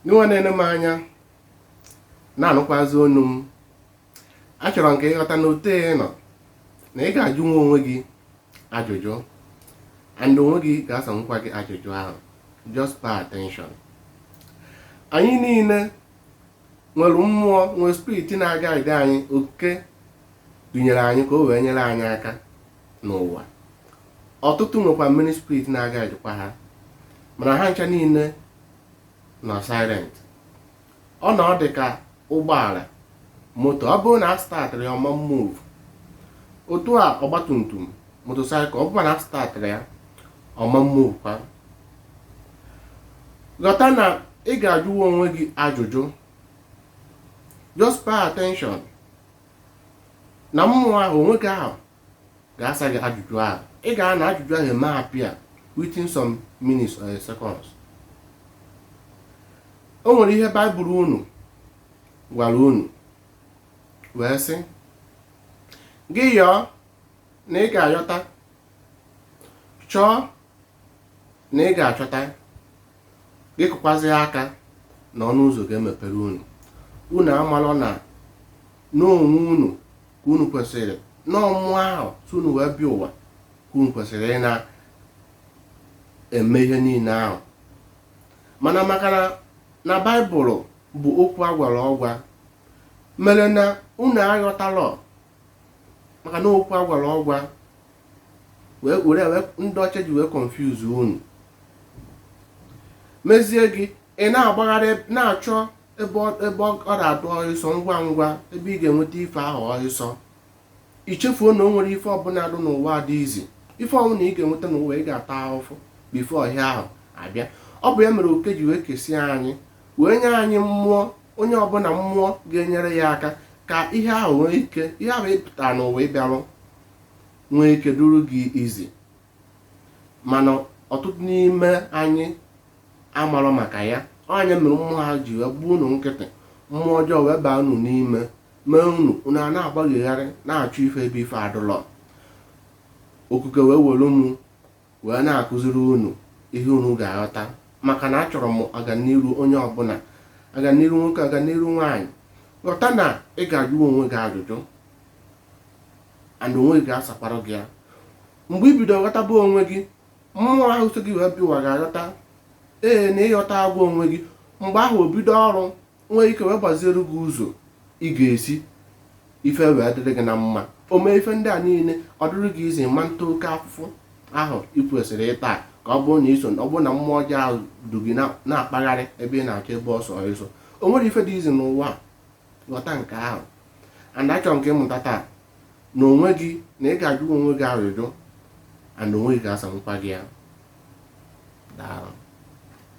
gị nwa na-ene m anya na-anụkwazi onu m achọrọ m ka ị ghọta na otu ị nọ na ị ga-ajụnwu onwe gị ajụjụ and onwe gị ga-asanwukwa gị ajụjụ ahụ just pay attention anyị niile nwere mmụọ nwere spirit na-aguide anyị okuke dunyere anyị ka o wee nyere anyị aka n'ụwa ọtụtụ nwekwa mmiri spirit na-aguidekwa ha mana ha ncha niile nọ silent ọ na ọ dị ka ụgbọala moto ọ bụrụ na a startịrọ ya ọ ma move otu a ọgbatumtum motosaịkụl ọ bụrụ na a startịrọ ya ọ ma movekwa ghọta na ị ga-ajụwa onwe gị ajụjụ just pay attention na mmụọ ahụ onwe gị ahụ ga-asa gị ajụjụ ahụ ị ga na ajụjụ ahụ eme appear within some minutes or seconds o nwere ihe baịbụl unu gwara unu wee sị gị yọọ na ị ga-ayọta chọọ na ị ga-achọta gị kụkwazi aka na ọnụ ụzọ ga-emepere unu unu amalọ na n'onwe unu ka unu kwesịrị na mmụọ ahụ so unu wee bịa ụwa ka unu kwesịrị ị na-eme ihe niile ahụ mana maka na na baịbụl bụ okwu a gwara ọgwa mere na unu aghọtalọ maka na okwu a gwara ọgwa wee were wee ndị ọcha ji wee confuse unu mezie gị ị na-agbagharị na-achọ ebe ọ- ebe ọ ọ na-adụ ọhịsọ ngwa ngwa ebe ị ga-enweta ife ahụ ọhịsọ i chefuo na o nwerọ ife ọbụla dị n'ụwa dị easy ife ọbụla ị ga-enweta n'ụwa ị ga-ata ahụfụ before ihe ahụ abịa ọ bụ ya mere okuke ji wee kesie anyị wee nye anyị mmụọ onye ọbụla mmụọ ga-enyere ya aka ka ihe ahụ nwee ike ihe ahụ ị pụtara n'ụwa ịbịa rụ nwee ike dụrụ gị easy mana ọtụtụ n'ime anyị amarọ maka ya ọ bụ ya mere mmụọ ha ji wee gbaa unu nkịtị mmụọ ọjọọ wee baa unu n'ime mee unu unu ana-agbagharị na-achụ ife ebe ife adụlọ okuke wee were mụ wee na-akụziri unu ihe unu ga-aghọta maka na achọrọ m aganiru onye ọbụla aganiru nwoke aganiru nwaanyị ghọta na ị ga-ajụ onwe gị ajụjụ and onwe gị ga-asakwara gị ya mgbe i bido ghọtaba onwe gị mmụọ ahụ so gị wee bịa ụwa ga-aghọta ee na ị ghọtago onwe gị mgbe ahụ o bido ọrụ nwee ike wee gbaziere gị ụzọ ị ga-esi ife wee dịrị gị na mma o mee ife ndị a niile ọ dịrị gị easy ị ma-ata oke afụfụ ahụ ị kwesịrị ịta ka ọ bụrụ na iso ọ bụrụ na mmụọ ọjọọ ahụ du gị na-akpagharị ebe ị na-achọ ebe ọsọ ịsọ o nwere ife dị easy n'ụwa a ghọta nke ahụ and achọrọ m ka ị mụta taa na onwe gị na ị ga-ajụ onwe gị ajụjụ and onwe gị ga-asanwụkwa gị ya daalụ